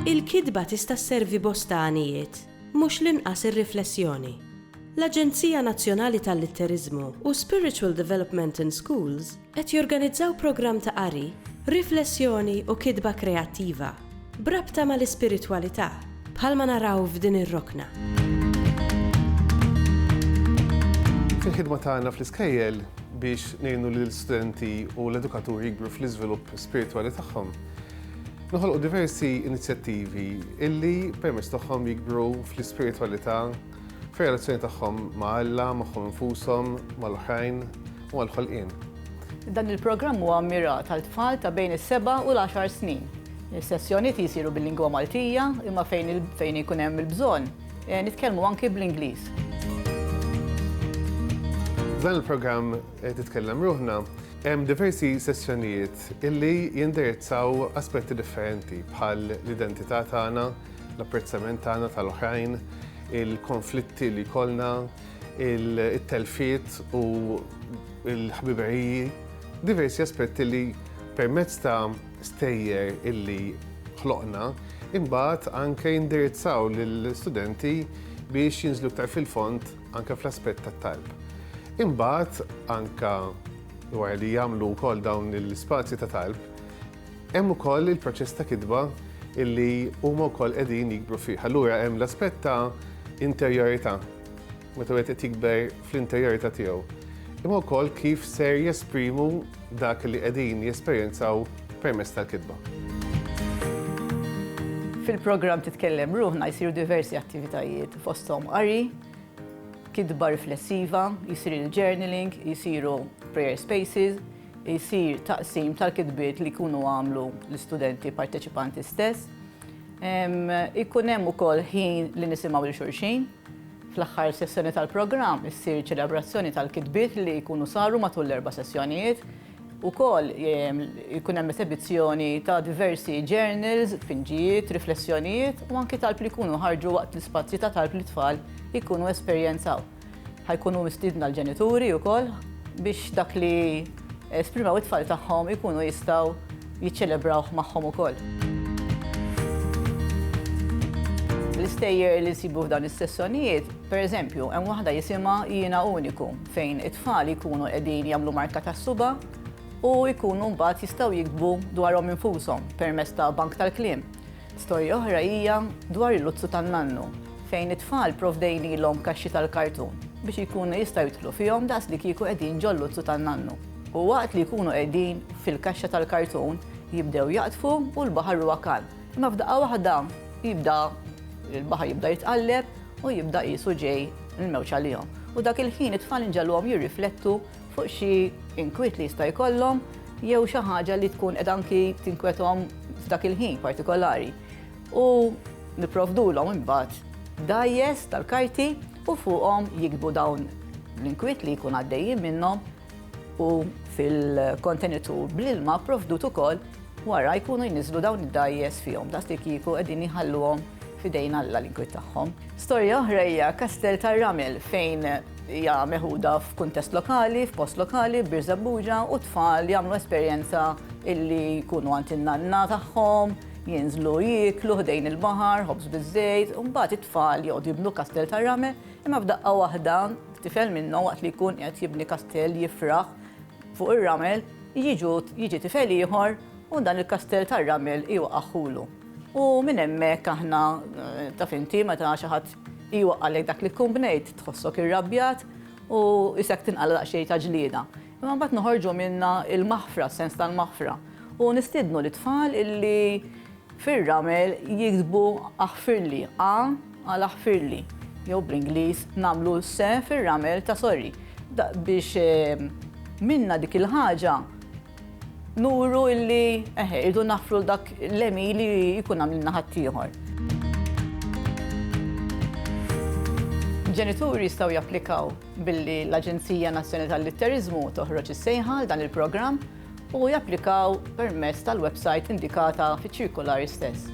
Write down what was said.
Il-kitba tista' sservi bosta għanijiet, mhux l-inqas ir-riflessjoni. L-Aġenzija Nazzjonali tal-Litteriżmu u Spiritual Development in Schools Qed jorganizzaw programm ta' qari, riflessjoni u kitba kreattiva b'rabta mal-ispiritwalità, bħalma naraw f'din ir-rokna. Fil-ħidma tagħna fl-iskejjel biex ngħinu lill-studenti u l-edukaturi jikbru fl-iżvilupp spiritwali tagħhom, noħolqu diversi inizjattivi illi permezz tagħhom jikbru fl-ispiritwalità Fir-relazzjoni tagħhom ma' Alla, magħhom infushom, mal-oħrajn u mal-ħolqien. Dan il-programm huwa mmirat għal tfal ta' bejn is-seba' u l-għaxar snin. Is-sessjoniet jsiru bil-lingwa Maltija imma fejn ikun hemm il-bżonn, nitkellmu anki bl-Ingliż. F'dan il-programm Titkellem Ruħna hemm diversi sessjonijiet li jindirizzaw aspetti differenti bħal l-identità tagħna, L-apprezzament tagħna tal-oħrajn, il-konflitti li jkollna, it-telfiet u l-ħbiberiji, diversi aspetti li permezz ta' stejjer illi ħloqna, imbagħad anke jindirizzaw lill-istudenti biex jinżlu iktar fil-fond anke fl-aspett tat-talb. Imbagħad anke wara li jagħmlu wkoll dawn l-ispazji ta' talb, Hemm ukoll il-proċess ta' kitba illi huma wkoll qegħdin jikbru fih. Allura hemm l-aspett ta' interjorità, meta wieħed qed jikber fl-interjorità tiegħu. Imma wkoll kif ser jesprimu dak li qegħdin jesperjenzaw permezz tal-kitba. Fil-programm Titkellem Ruħna jsiru diversi attivitajiet fosthom qari, kitba riflessiva, jsir il-journaling, jsiru prayer spaces, isir taqsim tal-kitbiet li jkunu għamlu l-istudenti parteċipanti stess. Ikun hemm ukoll ħin li nisimgħu lil xulxin. Fl-aħħar sessjoni tal-programm issir ċelebrazzjoni tal-kitbiet li jkunu saru matul l-erba' sessjonijiet. Ukoll ikun hemm esebizzjoni ta' diversi journals, tfinġijiet, riflessjonijiet u anki talb li jkunu ħarġu waqt l-ispazji ta' talb li t-tfal ikunu esperjenzaw. Ħa jkunu mistiedna l-ġenituri wkoll biex dak li esprimew it-tfal tagħhom ikunu jistgħu jiċċelebrawh magħhom ukoll. L-istejjer li nsibu f'dawn is-sessjonijiet, pereżempju, hemm waħda jisimha Jiena Uniku fejn it-tfal ikunu qegħdin jagħmlu marka tas-suba' u jkunu mbagħad jistgħu jiktbu dwarhom infushom permezz ta' bank tal-kliem. Storja oħra hija dwar il-luzzu tan-nannu, fejn it-tfal provdejnilhom kaxxi tal-kartun biex ikunu jistgħu jidħlu fihom daqs li kieku qegħdin ġol-luzzu tan-nannu. U waqt li jkunu qegħdin fil-kaxxa tal-kartun, jibdew jaqdfu u l-baħar huwa kalm. Imma f'daqqa waħda jibda l-baħar jibda jitqalleb u jibda qisu ġej il-mewġ għalihom. U dak il-ħin it-tfal inġegħluhom jirriflettu fuq xi inkwiet li jista' jkollhom jew xi ħaġa li tkun qed anki tinkwethom f'dak il-ħin partikolari. U nipprovdulhom imbagħad dajjes tal-karti u fuqhom jikbu dawn l-inkwiet li jkun għaddejjin minnhom u fil-kontenitur bl-ilma provdut ukoll wara jkunu jniżlu dawn id-dajjes fihom daqs li kieku qegħdin jħalluhom f'idejn Alla l-inkwiet tagħhom. Storja oħra hija Kastell tar-Ramel fejn Hija meħuda f'kuntest lokali, f'post lokali, b'Birżebbuġa u t-tfal jagħmlu esperjenza illi jkunu għand in-nanna tagħhom, jinżlu jieklu ħdejn il-baħar, ħobż biż-żejt, u mbagħad it-tfal joqgħdu jibnu kastell tar-rame, imma f'daqqa waħda tifel minnhom waqt li jkun qed jibni kastell jifraħ fuq ir-ramel, jiġu jiġi tifel ieħor u dan il-kastell tar-ramel iwaqagħhulu. U minn hemmhekk aħna taf inti meta xi ħadd Iwaqqagħlek dak li tkun bnejt, tħossok irrabjat u isek tinqala' daqsxejn ta' ġlieda. Imma mbagħad noħorġu minnha l-maħfra, s-sens tal-maħfra. U nistiednu lit-tfal illi fir-ramel jiktbu aħfirli, A għal aħfirli, jew bl-Ingliż nagħmlu se fir-ramel ta' sorry. Biex minna dik il-ħaġa Nuru illi eħe, irridu naħfru l-dak l-emi li jkun għamilna ħaddieħor. Ġenituri jistgħu japplikaw billi l-Aġenzija Nazzjonali tal-Litteriżmu toħroġ is-sejħa għal dan il-programm u japplikaw permezz tal-website indikata fiċ-ċirkolari stess.